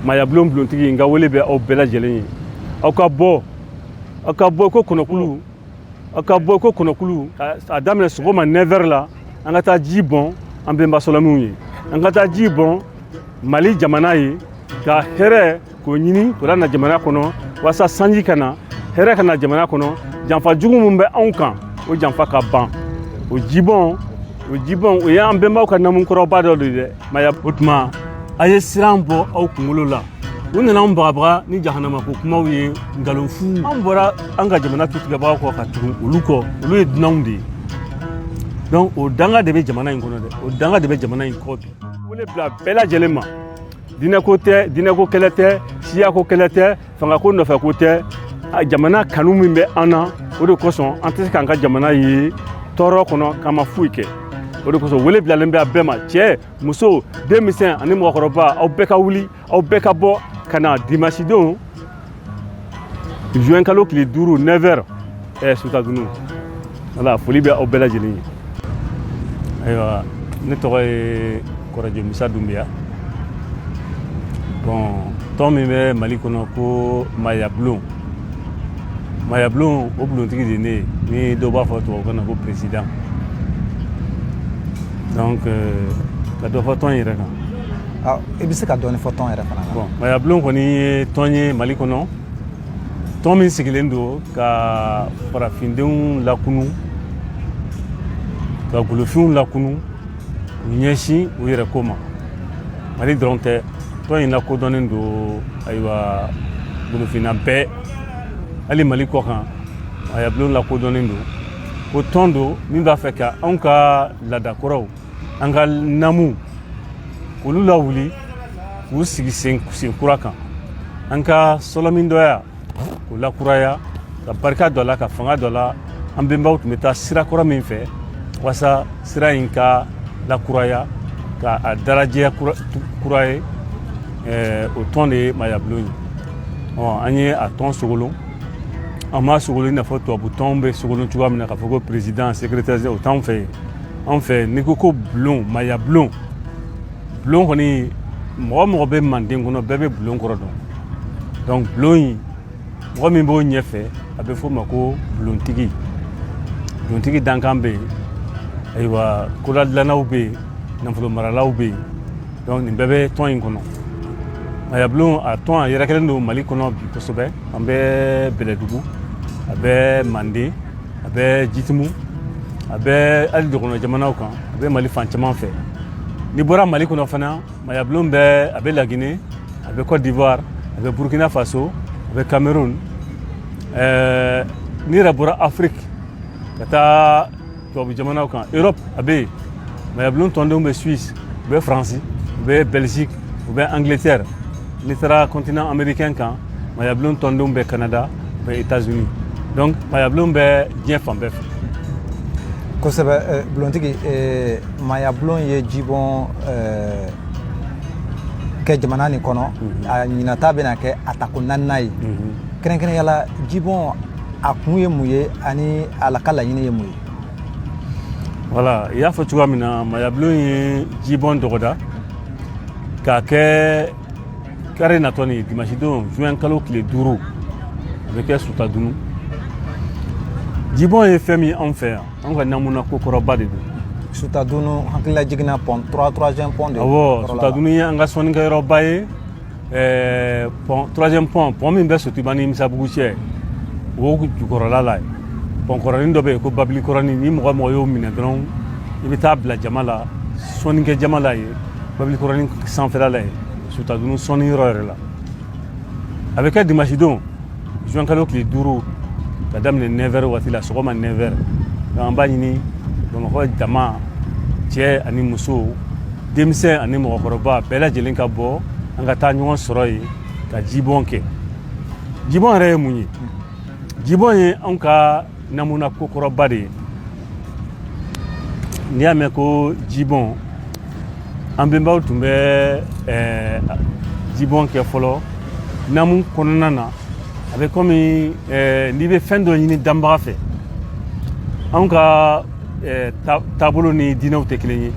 Maayabulon bulontigi n ka wele bɛ aw bɛɛ lajɛlen ye aw ka bɔ aw ka bɔ ko kɔnɔkulu aw ka bɔ ko kɔnɔkulu a daminɛ sɔgɔma 9 heures la an ka taa ji bɔn an benba sɔlɔminw ye an ka taa ji bɔn mali jamana ye ka hɛrɛ ko ɲini k'o lana jamana kɔnɔ walasa sanji ka na hɛrɛ ka na jamana kɔnɔ janfa jugu min bɛ anw kan o janfa ka ban o jibɔn o jibɔn o y'an benbaw ka namu kɔrɔba dɔ de dɛ maya o tuma a ye siran bɔ aw kunkolo la u nana anw bagabaga ni jahanama ko kumaw ye nkalonfu anw bɔra an ka jamana tutigɛbagaw kɔ ka tugu olu kɔ olu ye dunanw de ye donc o danga de bɛ jamana in kɔnɔ dɛ o danga de bɛ jamana in kɔ bi wele bila bɛɛ lajɛlen ma dinɛko tɛ dinɛko kɛlɛ tɛ siyako kɛlɛ tɛ fanga ko nɔfɛ ko tɛ jamana kanu min bɛ an na o de kosɔn an tɛ se k'an ka jamana ye tɔɔrɔ kɔnɔ k'an ma foyi kɛ o de kosɔn wele bilalen bɛ a bɛɛ ma cɛ muso denmisɛn ani mɔgɔkɔrɔba aw bɛɛ ka wuli aw bɛɛ ka bɔ ka na dimasi don juin kalo tile duuru 9 heures ɛɛ sutadunu ala foli bɛ aw bɛɛ lajɛlen ye ayiwa ne tɔgɔ ye kɔrɔjɛ musa dunbiya bon tɔn min bɛ mali kɔnɔ ko mayabulon mayabulon o bulontigi de ne ye ni dɔw b'a fɔ tubabukan na ko peresidan donc euh, ka dɔ fɔ tɔn yɛrɛ kan i bɛ se ka dɔɔni fɔ tɔn yɛrɛ fana kan bon mayabulon kɔni ye tɔn ye mali kɔnɔ tɔn min sigilen don ka farafindenw lakunu ka golofinw lakunu u ɲɛsin u yɛrɛ ko ma mali dɔrɔn tɛ tɔn in lakodɔnnen don ayiwa golofinna bɛɛ hali mali kɔ kan mayabulon lakodɔnnen don ko tɔn don min b'a fɛ ka anw ka laadakɔrɔw an ka namu k'olu lawuli k'u sigi sen kura kan an ka sɔlɔmin dɔya k'o lakuraya ka barika d'o la ka fanga d'o la an benbaw tun bɛ taa sira kɔrɔ min fɛ walasa sira in ka lakuraya ka a darajɛya kura ye eh, o tɔn de ye mayabulon ye an ye a tɔn sogolon an m'a sogolon i n'a fɔ tubabu tɔnw bɛ sogolon cogoya min na k'a fɔ ko président secrétaire o t'anw fɛ yen anw fɛ n'i ko ko bulon maya bulon bulon kɔni mɔgɔ o mɔgɔ bɛ manden kɔnɔ bɛɛ bɛ bulon kɔrɔ dɔn donc bulon in mɔgɔ min b'o ɲɛfɛ a bɛ f'o ma ko bulontigi bulontigi dankan bɛ yen ayiwa koladilannaw bɛ yen nafolo maralaw bɛ yen donc nin bɛɛ bɛ tɔn in kɔnɔ mayabulon a tɔn a yɛrɛkɛlen don mali kɔnɔ bi kosɛbɛ an bɛ bɛlɛdugu a bɛ manden a bɛ jitimu a bɛ hali dɔgɔnɔ jamanaw kan a bɛ mali fan caman fɛ n'i bɔra mali kɔnɔ fana mayabulon ɛɛ a bɛ laginɛ a bɛ kɔdiwari a bɛ burukina faso a bɛ kameruni ɛɛ n'i yɛrɛ bɔra afiriki ka taa tubabu jamanaw kan erɔpu a bɛ yen mayabulon tɔndenw bɛ suwisi u bɛ faransi u bɛ bɛliziki u bɛ angleterre n'i taara continent américain kan mayabulon tɔndenw bɛ canada u bɛ états unis donc mayabulon bɛ diɲɛ fan bɛɛ fɛ kosɛbɛ eh, bulontigi eh, mayabulon ye jibɔn eh, kɛ jamana nin kɔnɔ mhm. a ɲinata bɛna kɛ a tako naaninan ye mhm. kɛrɛnkɛrɛnya la jibɔn a kun ye mun ye ani a la ka laɲini ye mun ye voilà i y'a fɔ cogoya min na mayabulon ye jibɔn dɔgɔda k'a kɛ kari natɔ nin dimasidon juin kalo tile duuru a bɛ kɛ sutadunu jibɔn ye fɛn min anw fɛ yan anw ka namuna ko kɔrɔba de don sutadunu hakililajigin na pɔn troisième pɔn de awɔ sutadunu ye an ka sɔnnikɛyɔrɔba ye ɛɛ pɔn troisième pɔn pɔn min bɛ sotiba ni misabugu cɛ o jukɔrɔla la yen pɔn kɔrɔnin dɔ bɛ yen ko babili kɔrɔnin ni mɔgɔ mɔgɔ y'o minɛ dɔrɔn i bɛ taa bila jama la sɔnnikɛ jama la yen babili kɔrɔnin sanfɛla la yen sutadunu sɔnni yɔrɔ yɛrɛ la a bɛ kɛ dimasidon juin kalo tile duuru ka daminɛ neuf heures waati la sɔgɔma neuf heures donc an b'a ɲini bamakɔ jama cɛ ani muso denmisɛn ani mɔgɔkɔrɔba bɛɛ lajɛlen ka bɔ an ka taa ɲɔgɔn sɔrɔ yen ka jibɔn kɛ jibɔn yɛrɛ ye mun ye jibɔn ye anw ka namuna ko kɔrɔba de ye n'i y'a mɛn ko jibɔn an benbaw tun bɛ eh, jibɔn kɛ fɔlɔ namu kɔnɔna na a bɛ kɔmi eh, n'i bɛ fɛn dɔ ɲini danbaga fɛ anw ka eh, taabolo ni diinɛw tɛ kelen ye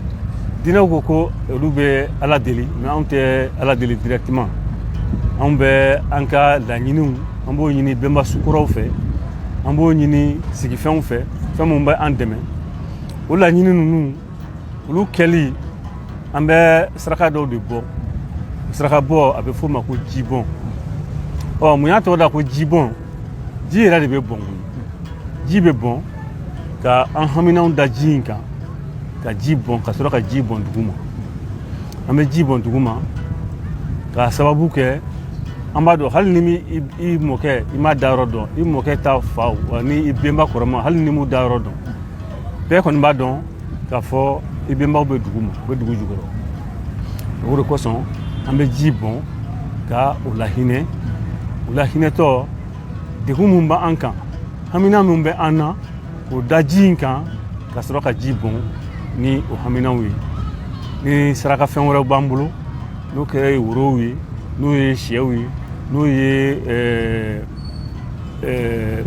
diinɛw ko ko olu bɛ ala deli mais anw tɛ ala deli directement anw bɛ an ka laɲiniw an b'o ɲini benba sukɔrɔw fɛ an b'o ɲini sigifɛnw fɛ fɛn minnu bɛ an dɛmɛ o laɲini ninnu olu kɛli an bɛ saraka dɔw de bɔ saraka bɔ a bɛ f'o ma ko jibɔn ɔ mun y'a tɔgɔ da ko jibɔn ji yɛrɛ de bɛ bɔn ji bɛ bɔn ka an haminanw da ji in kan ka ji bɔn ka sɔrɔ ka ji bɔn duguma an bɛ ji bɔn dugu ma k'a sababu kɛ an b'a dɔn hali ni i mɔkɛ i ma da yɔrɔ dɔn i mɔkɛ ta fa wa ni i bɛnba kɔrɔma hali n'i m'u da yɔrɔ dɔn bɛɛ kɔni b'a dɔn k'a fɔ i bɛnbaw bɛ dugu ma u bɛ dugu jukɔrɔ o de kosɔn an bɛ ji bɔn ka u lahinɛ u lahinɛtɔ degun min bɛ an kan hamina min bɛ an na O da ji in kan ka sɔrɔ ka ji bɔn ni o haminaw ye ni saraka fɛn wɛrɛw b'an bolo n'o kɛra ye worow ye n'o ye sɛw ye n'o ye eh, eh,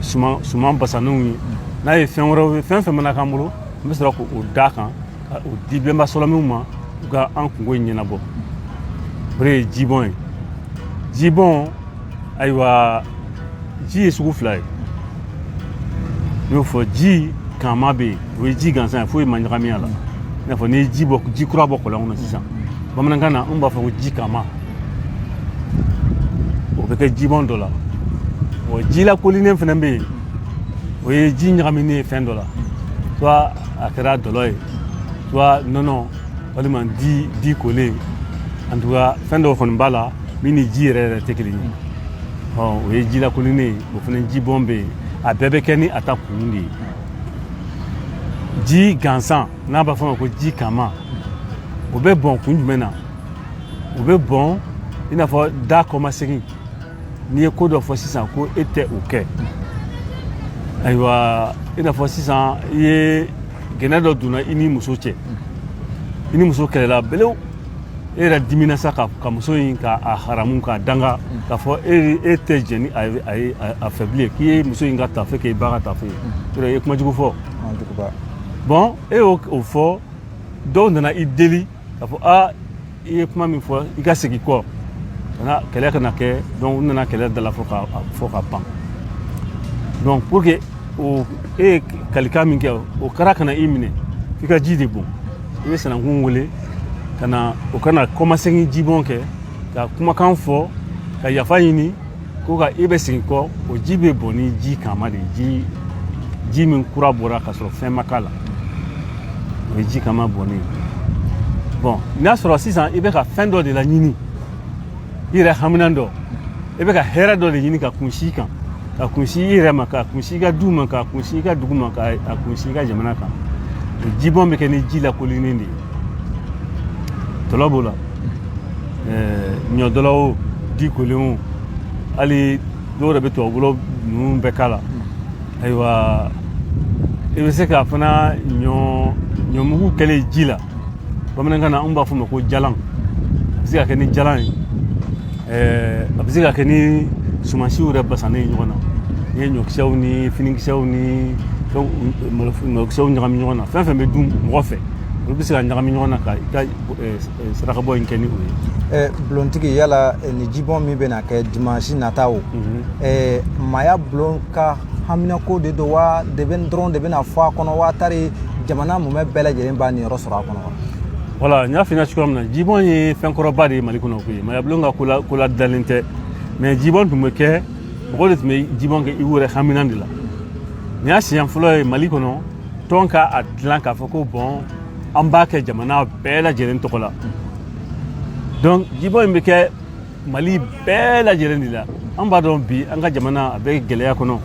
suman basannenw ye n'a ye fɛn wɛrɛw ye fɛn fɛn mana k'an bolo an bɛ sɔrɔ k'o da kan ka o di bɛnba sɔlɔmiw ma u ka an kungo ɲɛnabɔ o de ye jibɔn ye jibɔn ayiwa ji ye sugu fila ye n y'o fɔ ji kanma bɛ yen o ye ji gansan ye foyi ma ɲagami a la i n'a fɔ n'i ye ji bɔ ji kura bɔ kɔlɔn kɔnɔ sisan bamanankan na anw b'a fɔ ko ji kanma o bɛ kɛ jibɔn dɔ la wa ji lakolinen fana bɛ yen o ye ji ɲagaminen ye fɛn dɔ la soit a kɛra dɔlɔ ye soit nɔnɔ walima di di kolen en tout cas fɛn dɔw kɔni b'a la min ni ji yɛrɛ yɛrɛ tɛ kelen ye hɔn o ye ji lakolinen ye o fana ji bɔn bɛ yen a bɛɛ bɛ kɛ ni a ta kun de ye ji gansan n'a b'a fɔ ma ko ji kanma o bɛ bɔn kun jumɛn na o bɛ bɔn i n'a fɔ da kɔmasegin n'i ye ko dɔ fɔ sisan ko e tɛ o kɛ ayiwa i n'a fɔ sisan i ye gɛlɛya dɔ donna i ni muso cɛ i ni muso kɛlɛla belew e yɛrɛ dimina sa ka, ka muso in ka a haramu k'a danga mm. k'a fɔ e e tɛ jɛ ni a ye a ye a fɛ bilen k'i ye muso in ka tafe kɛ i ba ka tafe ye mm. yɔrɔ i ye kuma jugu fɔ bon e y'o o fɔ dɔw nana i deli k'a fɔ a i ye kuma min fɔ i ka segin kɔ kana kɛlɛ kana kɛ donc u nana kɛlɛ dala fɔ ka fɔ ka ban donc pour que o e ye kalikan min kɛ o kara kana i minɛ i ka ji de bɔn i bɛ sanankun wele ka na o ka na kɔmasegin jibɔn kɛ ka kumakan fɔ ka yafa ɲini ko ka i bɛ segin kɔ o ji bɛ bɔn ni ji kanma de ye ji min kura bɔra ka sɔrɔ fɛn ma k'a la o ye ji kanma bɔnnen bon n'a sɔrɔ sisan i bɛ ka fɛn dɔ de laɲini i yɛrɛ haminan dɔ i bɛ ka hɛrɛ dɔ de ɲini k'a kunsi kan k'a kunsi i yɛrɛ ma k'a kunsi i ka du ma k'a kunsi i ka dugu ma k'a kunsi i ka jamana kan o jibɔn bɛ kɛ ni ji lakolinen de ye dɔlɔ b'o la ɲɔdɔlɔ o di kolen o hali dɔw yɛrɛ bɛ tubabudɔlɔ ninnu bɛɛ k'a la ayiwa i bɛ se ka fana ɲɔ ɲɔmugu kɛlen ji la bamanankan na an b'a fɔ o ma ko jalan a bɛ se ka kɛ ni jalan ye ɛɛ a bɛ se ka kɛ ni sumansiw yɛrɛ basannen ye ɲɔgɔn na n'i ye ɲɔkisɛw ni finikisɛw ni fɛn malokisɛw ɲagami ɲɔgɔn na fɛn fɛn bɛ dun mɔgɔ fɛ olu bɛ se ka ɲagami ɲɔgɔn na ka i ka sarakabɔ in kɛ ni o ye. bulontigi yala ni jibɔn min bɛna kɛ dimansi nata o maaya bulon ka haminanko de don wa de bɛ dɔrɔn de bɛna fɔ a kɔnɔ wa tari jamana mumɛ bɛɛ lajɛlen b'a niyɔrɔ sɔrɔ a kɔnɔ wa voilà n y'a f'i ɲɛna cogoya min na jibɔn ye fɛn kɔrɔba de ye mali kɔnɔ koyi mayabulon ka ko ladalen tɛ mais jibɔn tun bɛ kɛ mɔgɔ de tun bɛ jibɔn kɛ i yɛrɛ haminan de la nin y'a siɲɛ fɔlɔ ye mali kɔnɔ tɔn ka a dilan k'a fɔ ko bon an b'a kɛ jamana bɛɛ lajɛlen tɔgɔ la donc jibɔn in bɛ kɛ mali bɛɛ lajɛlen de la an b'a dɔn bi an ka jamana a bɛ gɛlɛya kɔnɔ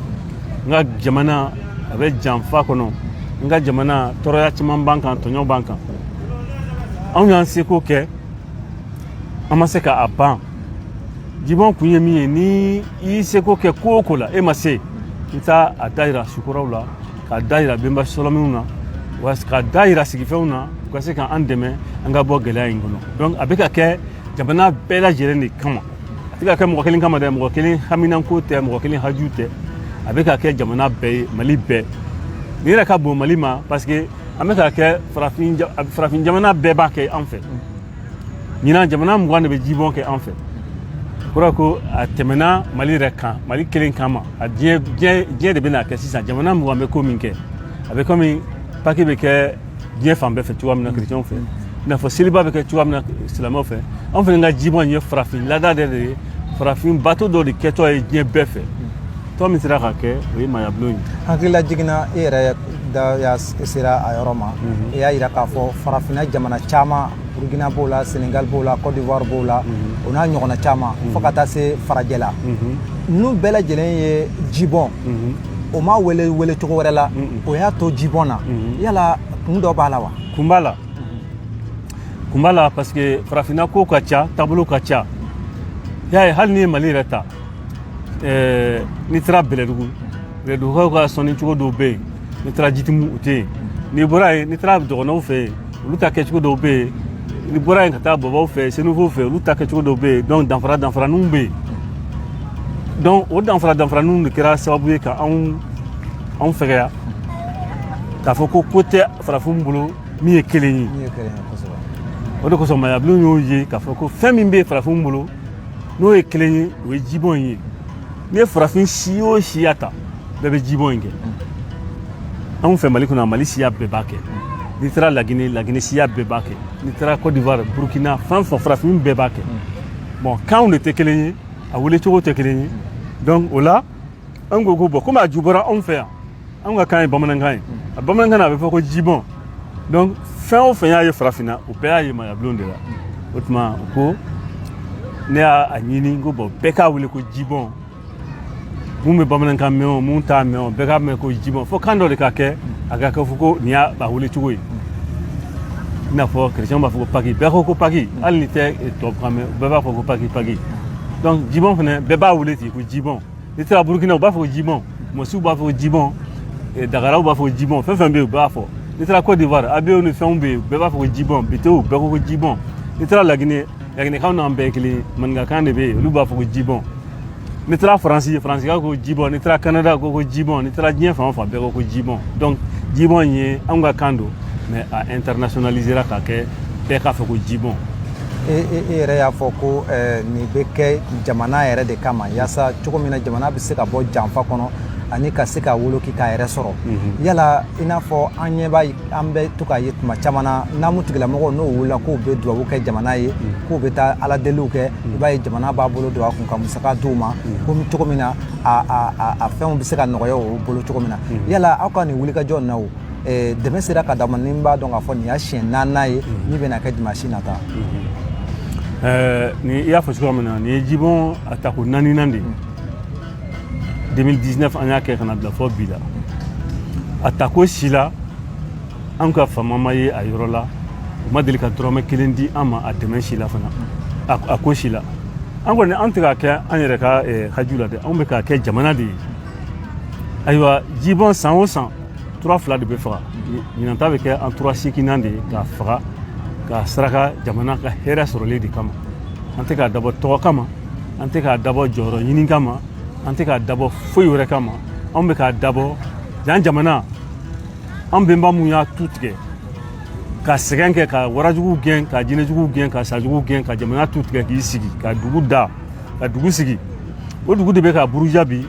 an ka jamana a bɛ janfa kɔnɔ an ka jamana tɔɔrɔya caman b'an kan tɔɲɔ b'an kan anw y'an seko kɛ an ma se ka a ban jibɔn kun ye min ye ni i y'i seko kɛ ko o ko la e ma se i taa a dayira sukuraw la k'a da yira benba sɔlɔminw na wa k'a da yira sigifɛnw na u ka se ka an dɛmɛ an ka bɔ gɛlɛya in kɔnɔ donc a bɛ ka kɛ jamana bɛɛ lajɛlen de kama a tɛ ka kɛ mɔgɔ kelen kama dɛ mɔgɔ kelen haminanko tɛ mɔgɔ kelen haju tɛ a bɛ ka kɛ jamana bɛɛ ye mali bɛɛ nin yɛrɛ ka bon mali ma parce que an bɛ k'a kɛ farafin jamana bɛɛ b'a kɛ an fɛ ɲinan jamana mugan de bɛ jibɔn kɛ an fɛ kura ko a tɛmɛna mali yɛrɛ kan mali kelen kan ma a diɲɛ de bɛn'a kɛ sisan jamana mugan bɛ ko min kɛ a bɛ kɔmi paki bɛ kɛ diɲɛ fan bɛɛ fɛ cogoya min na kerecɛnw fɛ i n'a fɔ seliba bɛ kɛ cogoya min na silamɛw fɛ anw fana ka jibɔn ye farafin laada de ye farafin bato dɔ de kɛtɔ ye diɲɛ bɛɛ fɛ tɔ min sera ka kɛ o ye mayabulon ye hakilila jiginna e yɛrɛ da y'a sera a yɔrɔ ma mhm. e y'a yira k'a fɔ farafinna jamana caman burukina b'o la senegal b'o la cote d'ivoire b'o la mhm. o n'a ɲɔgɔnna caman mhm. fo ka taa se farajɛ la ninnu bɛɛ lajɛlen ye jibɔn o m'a wele wele cogo wɛrɛ la o y'a to jibɔn na yala kun dɔ b'a la wa kun b'a la kun b'a la parce que farafinna ko ka ca taabolo ka ca y'a ye hali n'i ye mali yɛrɛ ta ɛɛ n'i taara bɛlɛdugu bɛlɛdugukaw ka sɔnni cogo dɔw bɛ yen n'i taara jitimu u tɛ yen n'i bɔra yen n'i taara dɔgɔnɔw fɛ yen olu ta kɛcogo dɔw bɛ yen n'i bɔra yen ka taa bɔbɔw fɛ senufow fɛ olu ta kɛcogo dɔw bɛ yen donc danfara danfaraninw bɛ yen donc o danfara danfaraninw de kɛra sababu ye ka anw anw fɛgɛya k'a fɔ ko ko tɛ farafinw bolo min ye kelen ye o de kosɔn mayabulon y'o ye k'a fɔ ko fɛn min bɛ farafinw bolo n'o ye kelen ye o ye jibɔn in ye n'i ye farafin si o siya ta bɛɛ bɛ jibɔn in kɛ anw fɛ mali kɔnɔ mali siya bɛɛ b'a kɛ n'i taara lagine lagine siya bɛɛ b'a kɛ n'i taara côte d'ivoire burkina fɛn fɛn farafin bɛɛ b'a kɛ bon kanw de tɛ kelen ye a wele cogo tɛ kelen ye donc o la an ko ko bon komi a ju bɔra anw fɛ yan anw ka kan ye bamanankan ye a bamanankan na a bɛ fɔ ko jibɔn donc fɛn o fɛn y'a ye farafinna o bɛɛ y'a ye mayabulon de la o tuma u ko ne y'a ɲini ko bon bɛɛ k'a wele ko jibɔn mun bɛ bamanankan mɛn o mun t'a mɛn o bɛɛ k'a mɛn ko jibɔn fo kan dɔ de ka kɛ a ka kɛ fɔ ko nin y'a wele cogo ye i n'a fɔ kerecɛnw b'a fɔ ko paki bɛɛ ko ko paki hali n'i tɛ tubabukan mɛn bɛɛ b'a fɔ ko paki paki donc jibɔn fana bɛɛ b'a wele ten ko jibɔn n'i taara burukina u b'a fɔ ko jibɔn mɔsiw b'a fɔ ko jibɔn eh, dagaraw b'a fɔ ko jibɔn fɛn fɛn bɛ yen u b'a fɔ n'i taara côte d'ivoire abiyew ni fɛnw bɛ yen bɛɛ b'a fɔ ko jibɔn betew bɛɛ ko ko jibɔn n'i taara lagine laginekaw n'an bɛɛ kelen ye maninkakan de bɛ yen olu b'a fɔ ko jibɔn n'i taara faransi faransikaw ko jibɔn n'i taara kanada ko ko jibɔn n'i taara diɲɛ fan o fan bɛɛ ko ko jibɔn donc jibɔn ye anw ka kan don mais a internationalisera ka kɛ bɛɛ k'a fɔ ko jibɔn e yɛrɛ y'a fɔ ko nin bɛ kɛ jamana yɛrɛ de kama yaasa cogo min na jamana bɛ se ka bɔ janfa kɔnɔ ani ka se ka woloki k'a yɛrɛ sɔrɔ yala i n'a fɔ an ɲɛ b'a an bɛ to k'a ye tuma caman na namu tigilamɔgɔw n'o wulila k'u bɛ dubabu kɛ jamana ye k'u bɛ taa ala deliw kɛ i b'a ye jamana b'a bolo don a kun ka musaka di u ma ko cogo min na a fɛnw bɛ se ka nɔgɔya o bolo cogo min na yala aw ka nin wulikajɔ na dɛmɛ sera ka d'a ma ni n b'a dɔn k'a fɔ nin y'a siɲɛ naaninan ye min bɛna kɛ dimansi nata ni i y'a fɔ cogoya min na nin ye jibɔn a tako naaninan de ye 2019 an y'a kɛ ka n'a bila fo bi la a tako si la an ka faama ma ye a yɔrɔ la u ma deli ka dɔrɔmɛ kelen di an ma a dɛmɛ si la fana a ko si la an kɔni an tɛ k'a kɛ an yɛrɛ ka haju la dɛ anw bɛ k'a kɛ jamana de ye ayiwa jibɔn san o san tura fila de bɛ faga ɲinan ta bɛ kɛ an tura seekinan de ye k'a faga k'a saraka jamana ka hɛrɛ sɔrɔlen de kama an tɛ k'a dabɔ tɔgɔ kama an tɛ k'a dabɔ jɔyɔrɔ ɲini kama an tɛ k'a dabɔ foyi wɛrɛ kama anw bɛ k'a dabɔ yan jamana an bɛnba mun y'a tu tigɛ ka sɛgɛn kɛ ka warajugu gɛn ka jinɛjugu gɛn ka sajugu gɛn ka jamana tu tigɛ k'i sigi ka dugu da ka dugu sigi o dugu de bɛ ka buruja bi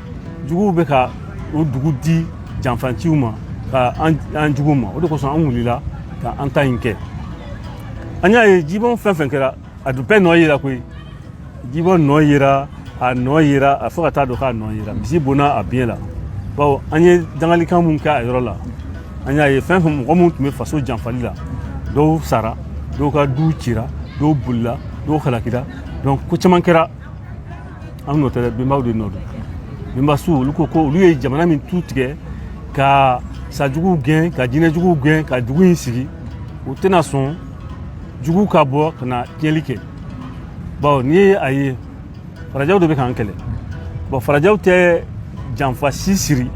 juguw bɛ ka o dugu di janfanciw ma ka an juguw ma o de kosɔn an wulila ka an ta in kɛ an y'a ye jibɔn fɛn fɛn kɛra a dun bɛɛ nɔ yera koyi jibɔn nɔ yera a nɔ yera a fo ka taa dɔn k'a nɔ yera misi bonna a biɲɛ la bawo an ye dangalikan mun kɛ a yɔrɔ la an y'a ye fɛn fɛn mɔgɔ minnu tun bɛ faso janfali la dɔw sara dɔw ka du cira dɔw bolila dɔw halakira donc ko caman kɛra an nɔ tɛ dɛ bɛnbaw de nɔ don bɛnbasuw olu ko ko olu ye jamana min tu tigɛ ka sajuguw gɛn ka jinɛjuguw gɛn ka dugu in sigi u tɛna sɔn jugu ka bɔ ka na tiɲɛli kɛ bawo n'i ye a ye farajɛw de bɛ k'an kɛlɛ bon farajɛw tɛ janfa si siri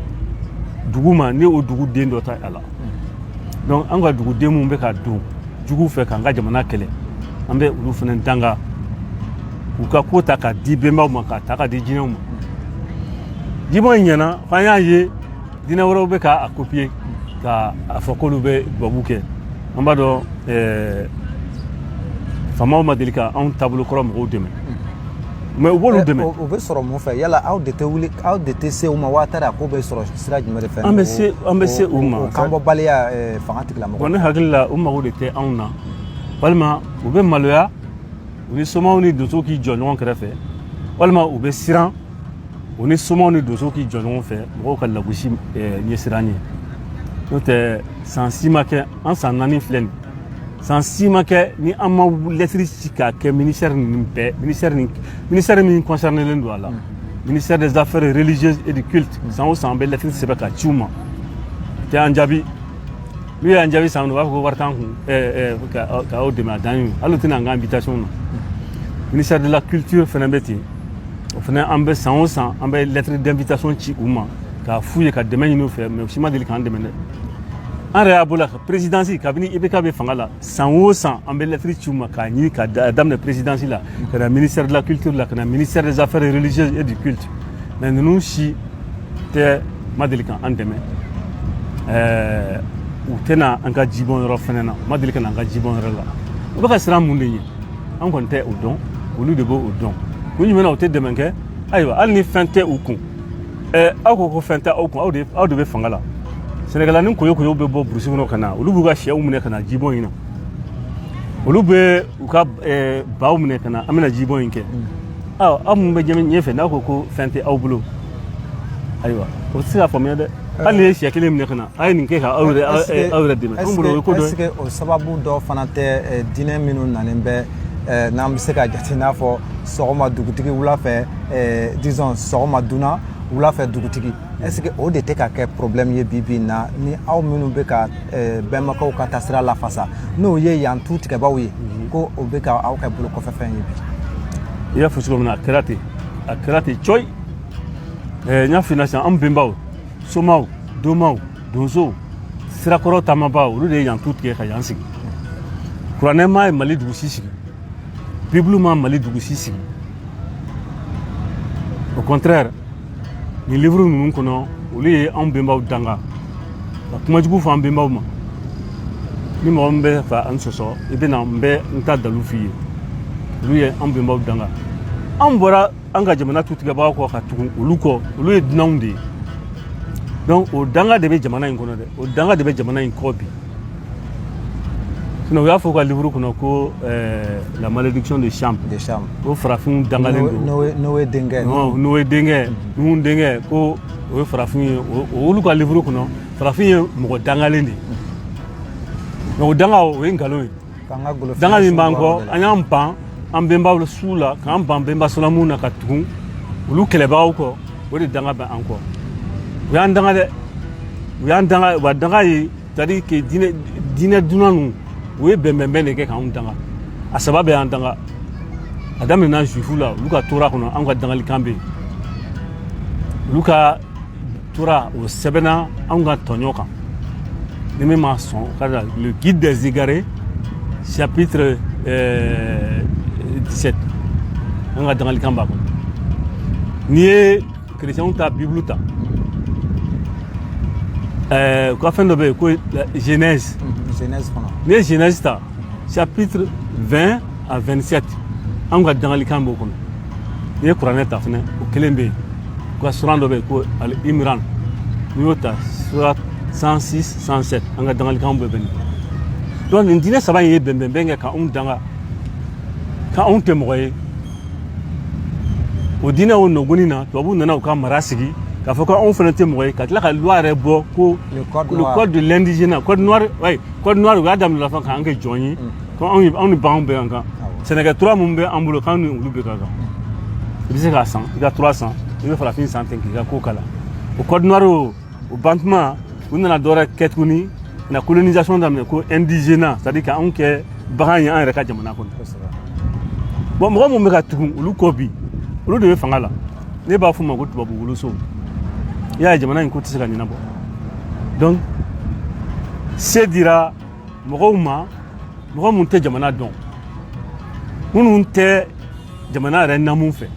dugu ma ni o duguden dɔ t'a la donc an ka duguden minnu bɛ ka don juguw fɛ k'an ka jamana kɛlɛ an bɛ olu fana danga u ka ko ta k'a di bɛnbaw ma k'a ta k'a di jinɛw ma jibɔn in ɲɛna f'an y'a ye diinɛ wɛrɛw bɛ ka a kopiye ka a fɔ k'olu bɛ dubabu kɛ an b'a dɔn eh, faamaw ma deli ka anw taabolo kɔrɔ mɔgɔw dɛmɛ mais u b'olu dɛmɛ o bɛ sɔrɔ mun fɛ yala aw de tɛ wuli aw de tɛ se u ma waa taara a ko bɛ sɔrɔ sira jumɛn de fɛ an bɛ se an bɛ se u ma kanbɔbaliya eh, fanga tigilamɔgɔ ne hakili la u mago de tɛ anw na walima u bɛ maloya u ni somaw ni donsow k'i jɔ ɲɔgɔn kɛrɛfɛ walima u bɛ siran u ni somaw ni donsow k'i jɔ ɲɔgɔn fɛ mɔgɔw ka lagosi eh, ɲɛsiran ye n'o tɛ san si ma kɛ an san naani filɛ nin san si ma kɛ ni an ma lɛtiri ci k'a kɛ ministère nin bɛɛ ministère nin ministère min concernélen don a la ministère des affaires religieuses et du culte san o san an bɛ lɛtiri sɛbɛn ka ci u ma tɛ an jaabi n'u y'an jaabi san u b'a fɔ ko wari t'an kun ka aw dɛmɛ a dan ye hali u tɛ na an ka invitation na ministère de la culture fana bɛ ten o fana an bɛ san o san an bɛ lettre d'invitation ci u ma k'a f'u ye ka dɛmɛ ɲini u fɛ mais u si ma deli k'an dɛmɛ dɛ an yɛrɛ y'a bolo la présidence kabini ibk bɛ fanga la san o san an bɛ lettre ci u ma k'a ɲini ka daminɛ présidence la ka na ministère de la culture la ka na ministère des affaires religieuses et du culte mais ninnu si tɛ ma deli ka an dɛmɛ ɛɛ u tɛ na an ka jibɔn yɔrɔ fɛnɛ na ma deli ka na an ka jibɔn yɔrɔ la u bɛ ka siran mun de ɲɛ an kɔni tɛ o dɔn olu de bɛ o dɔn kun jumɛn na u tɛ dɛmɛ kɛ ayiwa hali ni fɛn tɛ u kun ɛɛ aw ko ko fɛn tɛ aw kun aw de aw de bɛ fanga la sɛnɛkɛla ni koyo koyo bɛ bɔ burusi kɔnɔ ka na olu b'u ka sɛw minɛ ka na jibɔn in na olu bɛ u ka baw minɛ ka na an bɛna jibɔn in kɛ aw minnu bɛ ɲɛfɛ n'aw ko ko fɛn tɛ aw bolo ayiwa o tɛ se ka faamuya dɛ hali n'i ye siɲɛ kelen minɛ ka na a ye nin kɛ ka aw yɛrɛ aw yɛrɛ dɛmɛ anw bolo o ye ko dɔ ye est ce que o sababu dɔ fana tɛ eh, diinɛ minnu nalen bɛ eh, n'an bɛ se ka jate n'a fɔ sɔgɔma dugutigi wula fɛ eh, disons sɔgɔma dunan wula fɛ dugutigi est ce que o de tɛ ka kɛ problème ye bi bi in na ni aw minnu bɛ ka bɛnbakɛw ka taasira lafasa n'o ye yan tu tigɛbaaw ye mhm. ko o bɛ ka aw kɛ bolo kɔfɛfɛn ye bi i y'a fɔ cogo min na a kɛra ten a kɛra ten cɔyi n y'a f'i ɲɛna sisan an bɛnbaw somaw domaw donsow sirakɔrɔ taamabaaw olu de ye yan tu tigɛ ka yan sigi kuranɛ ma ye mali dugu si sigi bibulu ma mali dugu si sigi au contraire nin livre ninnu kɔnɔ olu ye anw bɛnbaw danga ka kuma jugu fɔ an bɛnbaw ma ni mɔgɔ min bɛ fɛ k'an sɔsɔ i bɛ na n bɛ n ta dalu f'i ye olu ye anw bɛnbaw danga anw bɔra an ka jamana tutigɛbaaw kɔ ka tugu olu kɔ olu ye dunanw de ye donc o danga de bɛ jamana in kɔnɔ dɛ o danga de bɛ jamana in kɔ bi sinon u y'a fɔ u ka livre kɔnɔ ko eh, la malédiction de cham de cham ko farafinw dangalen don noé denkɛ noé denkɛ nuhun denkɛ ko o ye farafin ye olu ka livre kɔnɔ farafin ye mɔgɔ dangalen de ye mais o danga o ye nkalon ye danga min b'an kɔ an y'an ban an bɛnbaw suw la k'an ban bɛnbasolamu na ka tugun olu kɛlɛbaaw kɔ o de danga bɛ an kɔ u y'an danga dɛ u y'an danga u ka danga ye c'est à dire que diinɛ diinɛ dunan ninnu u ye bɛnbɛnbɛn de kɛ k'anw danga a saba bɛ y'an danga a daminɛna juifu la olu ka tora kɔnɔ anw ka dangalikan bɛ yen olu ka tora o sɛbɛnna anw ka tɔɲɔ kan ni min ma sɔn ka da le guide des égarés chapitre euh, 17 an ka dangalikan b'a kɔnɔ n'i ye kerecɛnw ta bibulu ta u ka fɛn dɔ bɛ yen ko genèse n'i ye genèse ta chapitre 20 à 27 an ka dangalikan b'o kɔnɔ n'i ye kuranɛ ta fɛnɛ o kelen bɛ yen u ka suran dɔ bɛ yen ko ali imran n'i y'o ta sura 106 107 an ka dangalikanw bɛɛ bɛ nin donc nin diinɛ saba in ye bɛnbɛnbɛn kɛ ka anw danga ko anw tɛ mɔgɔ ye o diinɛ o nɔgɔni na tubabuw nana u ka mara sigi k'a fɔ ko anw fana tɛ mɔgɔ ye ka tila ka loi yɛrɛ bɔ ko le code de l'indigénat code noir oui code noir u y'a daminɛ fa k'an kɛ jɔn ye ko anw ni baganw bɛɛ ka kan sɛnɛkɛ tura minnu bɛ an bolo k'an ni olu bɛɛ ka kan i bɛ se k'a san i ka tura san i bɛ farafin san ten k'i ka ko k'a la o code noir o o bantuma u nana dɔwɛrɛ kɛ tuguni na colonisation daminɛ ko indigénat c'est à dire ka anw kɛ bagan ye an yɛrɛ ka jamana kɔnɔ bon mɔgɔ minnu bɛ ka tugun olu kɔ bi olu de bɛ fanga la ne b'a f'u ma ko tubabu woloso i y'a ye jamana in ko tɛ se ka ɲɛnabɔ donc se dira mɔgɔw ma mɔgɔ minnu tɛ jamana dɔn minnu tɛ jamana yɛrɛ namu fɛ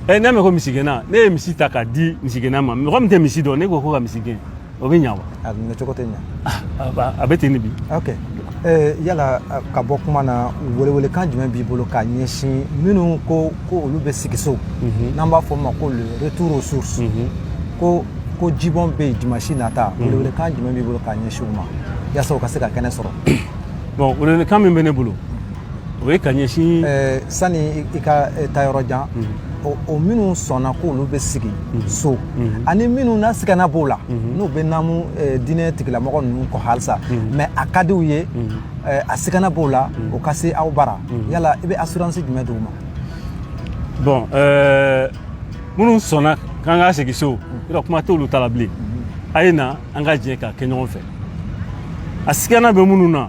ɛ n'a mɛn ko misigɛnna ne ye misi ta k'a di misigɛnna ma mɔgɔ min tɛ misi dɔn ne ko k'o ka misi gɛn o bɛ ɲa wa a minɛ cogo tɛ ɲa a bɛ ten de bi ok yala ka bɔ kuma na welewelekan jumɛn b'i bolo k'a ɲɛsin minnu ko ko olu bɛ segin so n'an b'a fɔ o ma ko le retour aux sources ko ko jibɔn bɛ yen dimanche nata welewelekan jumɛn b'i bolo k'a ɲɛsin u ma yasa u ka se ka kɛnɛ sɔrɔ bon welewelekan min bɛ ne bolo o ye ka ɲɛsin sani i ka taa yɔrɔ jan o minnu sɔnna k'olu bɛ segin so ani minnu na sigana b'o la n'u bɛ namu diinɛ tigilamɔgɔ ninnu kɔ halisa mais a ka di u ye a sigana b'o la o ka se aw bara yala i bɛ assurance jumɛn di u ma bon minnu sɔnna k'an ka segin so yɔrɔ kuma t'olu ta la bilen a ye na an ka jɛ k'a kɛ ɲɔgɔn fɛ a sigana bɛ minnu na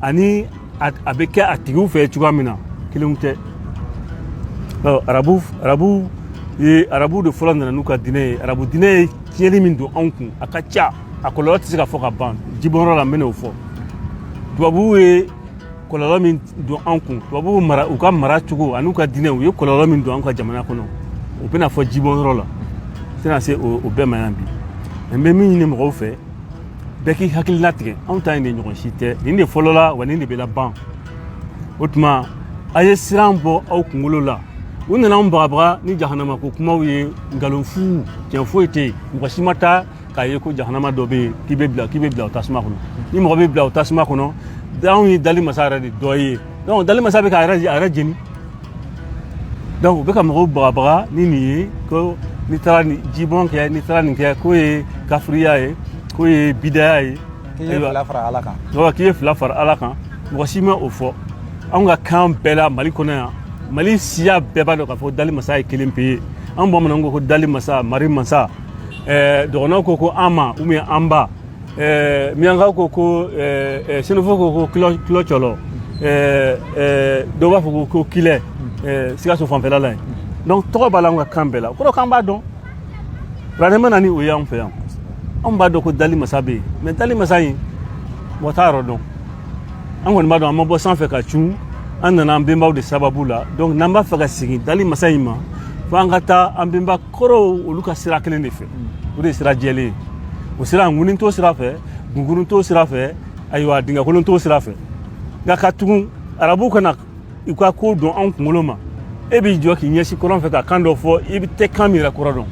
ani a bɛ kɛ a tigiw fɛ cogoya min na kelen tɛ arabu arabu ye arabu de fɔlɔ nana n'u ka diinɛ ye arabu diinɛ ye tiɲɛni min don anw kun a ka ca a kɔlɔlɔ tɛ se ka fɔ ka ban jibɔnyɔrɔ la n bɛn'o fɔ tubabuw ye kɔlɔlɔ min don anw kun tubabuw mara u ka mara cogo an'u ka diinɛ u ye kɔlɔlɔ min don anw ka jamana kɔnɔ o bɛna fɔ jibɔnyɔrɔ la n tɛna se o bɛɛ ma yan bi n bɛ min ɲini mɔgɔw fɛ bɛɛ k'i hakili latigɛ anw ta in de ɲɔgɔn si tɛ nin de fɔlɔla wa nin de bɛ laban o tuma a ye siran bɔ aw kunkolo la u nana anw bagabaga ni jahanama ko kumaw ye nkalon fu tiɲɛ foyi tɛ yen mɔgɔ si ma taa k'a ye ko jahanama dɔ bɛ yen k'i bɛ bila k'i bɛ bila o tasuma kɔnɔ ni mɔgɔ bɛ bila o tasuma kɔnɔ anw ye dali masa yɛrɛ de dɔ ye donc dali masa bɛ k'a yɛrɛ a yɛrɛ jeni donc u bɛ ka mɔgɔw bagabaga ni nin ye ko n'i taara nin jibɔn kɛ n'i taara nin kɛ k'o ye kafiriya ye k'o ye bidaya ye k'i ye fila fara ala kan k'i ye fila fara ala kan mɔgɔ si ma o fɔ anw ka kan bɛɛ la mali kɔnɔ yan mali siya bɛɛ b'a dɔn k'a fɔ dali masa ye kelen pe ye an bamananw ko ko dali masa mari masa dɔgɔnɔw ko ko anma ou bien anba ɛɛ miyankaw ko ko ɛɛ senufo ko ko kulɔ kulɔcɔlɔ ɛɛ ɛɛ dɔw b'a fɔ ko ko kilɛ ɛɛ sikaso fanfɛla la yen donc tɔgɔ b'a la an ka kan bɛɛ la o kɔrɔ k'an b'a dɔn kuranɛ ma na ni o ye anw fɛ yan anw b'a dɔn ko dali masa bɛ yen mais dali masa in mɔgɔ t'a yɔrɔ dɔn an kɔni b'a dɔn an ma bɔ sanfɛ ka cun an nana an bɛnbaw de sababu la donc n'an b'a fɛ ka segin dali masa in ma fo an ka taa an bɛnba kɔrɔw olu ka sira kelen de fɛ o de ye sira jɛlen ye o sira ŋunin t'o sira fɛ gunkurun t'o sira fɛ ayiwa dingɛkolon t'o sira fɛ nka ka tugun arabukan na u ka ko dɔn anw kunkolo ma e b'i jɔ k'i ɲɛsin kɔrɔn fɛ ka kan dɔ fɔ i bɛ tɛ kan min yɛrɛ kɔrɔ dɔn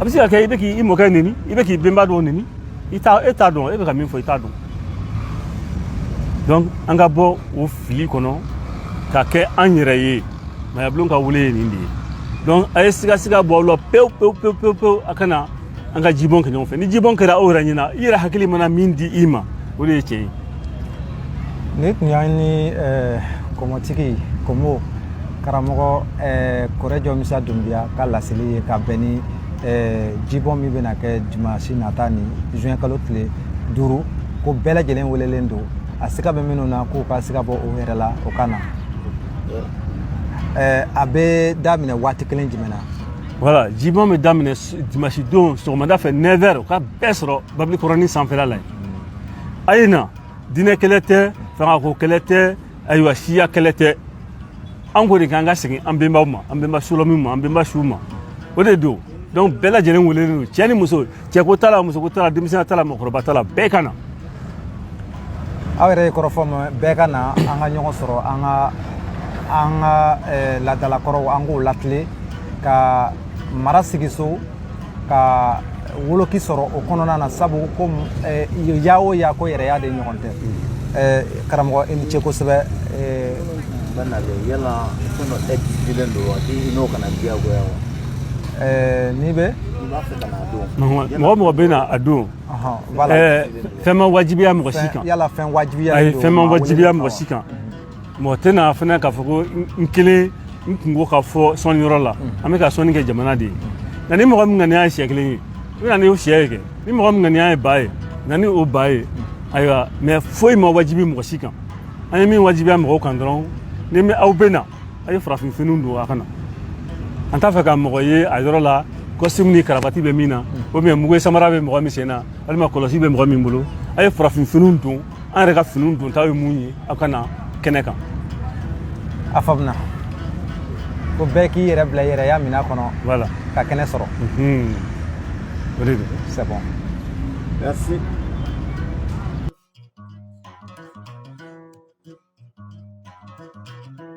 a bɛ se ka kɛ i bɛ k'i mɔkɛ neni i bɛ k'i benba dɔw neni i t'a e t'a dɔn e bɛ ka min fɔ i t'a dɔn donc an ka bɔ o fili kɔnɔ ka kɛ an yɛrɛ ye maayabulon ka wele ye nin de ye donc a ye sigasiga bɔ aw la pewu pewu pewu pewu pewu a ka na an ka jibɔn kɛ ɲɔgɔn fɛ ni jibɔn kɛra aw yɛrɛ ɲɛna i yɛrɛ hakili mana min di i ma o de ye tiɲɛ ye nin tun y'an ni kɔmɔtigi kɔmɔ karamɔgɔ kɔrɛjɔ misa dunbiya ka laseli ye ka bɛn ni jibɔn min bɛna kɛ dimansi nata ni juin kalo tile duuru ko bɛɛ lajɛlen welelen don a siga bɛ minnu na k'u ka siga bɔ u yɛrɛ la u ka na ɛɛ a bɛ daminɛ waati kelen jumɛn na voilà jibɔn bɛ daminɛ dimanche don sɔgɔmada fɛ 9 heures o ka bɛɛ sɔrɔ babili kɔrɔnin sanfɛla la yen a ye na diinɛ kɛlɛ tɛ fangako kɛlɛ tɛ ayiwa siya kɛlɛ tɛ an ko de k'an ka segin an benbaw ma an benba solɔmiw ma an benba suw ma o de don donc bɛɛ lajɛlen welelen don cɛ ni muso cɛko t'a la musoko t'a la denmisɛnya t'a la mɔgɔkɔrɔba t'a la bɛɛ ka na aw yɛrɛ ye kɔrɔfɔ mɛn bɛɛ ka na an ka ɲɔgɔn sɔrɔ an ka an ka eh, laadalakɔrɔw an k'o latilen ka mara sigiso ka woloki sɔrɔ o kɔnɔna na sabu ko eh, ya o ya ko yɛrɛya de ɲɔgɔn tɛ eh, karamɔgɔ i ni ce kosɛbɛ eh, bɛɛ nalen yala fɛn dɔ exigélen don wa i n'o ka na diyagoya wa eh, n'i bɛ mɔgɔ mɔgɔ bɛ na a don fɛn ma wajibiya mɔgɔ si kan ayi fɛn ma wajibiya mɔgɔ si kan mɔgɔ tɛ na fana k'a fɔ ko n kelen n kunko k'a fɔ sɔnni yɔrɔ la an bɛ ka sɔnni kɛ jamana de ye nka ni mɔgɔ min ŋaniya ye syɛ kelen ye i bɛ na ni o syɛ ye kɛ ni mɔgɔ min ŋaniya ye ba ye na ni o ba ye ayiwa mais foyi ma wajibi mɔgɔ si kan an ye min wajibiya mɔgɔw kan dɔrɔn ni aw bɛ na a ye farafin finiw don a kana an t'a fɛ ka mɔgɔ ye a yɔrɔ la costume ni karabati bɛ min na ou bien mukɛ samara bɛ mɔgɔ min sen na walima kɔlɔsi bɛ mɔgɔ min bolo a ye farafin finiw don an yɛrɛ ka finiw don ta ye mun ye aw ka na kɛnɛ kan a faamuna ko bɛɛ k'i yɛrɛ bila i yɛrɛya minɛn kɔnɔ voilà ka kɛnɛ sɔrɔ Mhm. o de don c'est bon merci